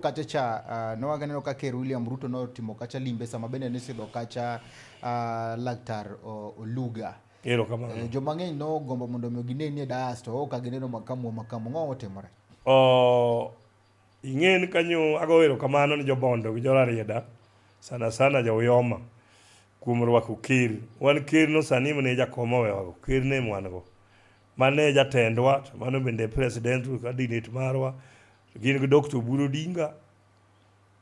kacha cha uh, ah, newaganeno ka ker William Ruto notimo kacha limbe sama bende nisidho kacha uh, laktar Oluga ero kamano eh, joma ng'eny nogombo mondo omi gine ni e das to ok agineno makamu makamu ng'o otimore oh, ing'eni kanyo ago ero kamano ni jobondo gi jorarieda sana sana jouyoma kuom rwako ker wan ker no sani mne jakoma wewago ker ne mwan go Mano e jatendwa, to mano bende e presidential candidate marwa, to gin gi Dr. Oburu Odinga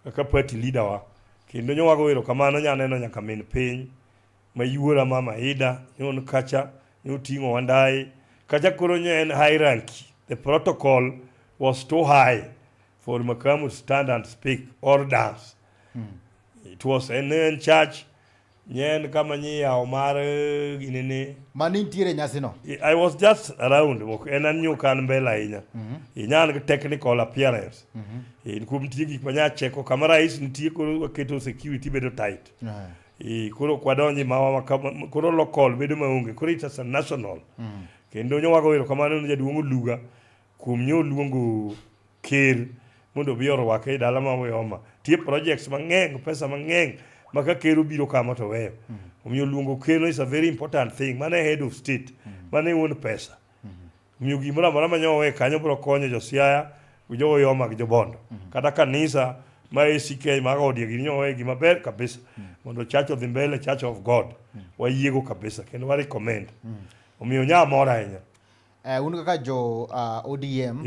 kaka party leader wa. Kendo nyowago erokamano nyaneno nyaka min piny mayuora mama Ida nyon kacha nyoting'o wandaye. Kacha koro nye en hierarchy. The protocol was too high for Makamu to stand and speak or dance. It was an in church Nye en kama nyi yawo mar gini ni. Ma ni nitiere nyasi no. I was just around, ok en an nyuka an mbele ahinya. Mm -hmm. Inya an technical appearance. Mm -hmm. In kuom tiye gik manya cheko kama rais nitie koro waketo security bedo tight. Mm -hmm. E, koro kwadonji mawa makama, koro local bedo maonge. Koro it's a national. Mm -hmm. Kendo nyowago wero kamano ni jaduong' Oluga. Kuom nyo luongo ker mondo obi orwake e dala ma Oyoma, tie projects mang'eng, pesa mang'eng ma ka ker obiro kama to oweyo. Omiyo luongo ker is a very important thing. Mano e head of state. Mano e wuon pesa. Omiyo gimoro amora ma nyo owe kanyo biro konyo jo Siaya, jo Oyoma gi jo Bondo. Kata kanisa ma ACK ma odie gini nyo owe gima ber kabisa. Mondo church odhi mbele, church of God. Wayiego kabisa kendo wa recommend. Omiyo nya amor ahinya. Eh, un kaka jo uh, ODM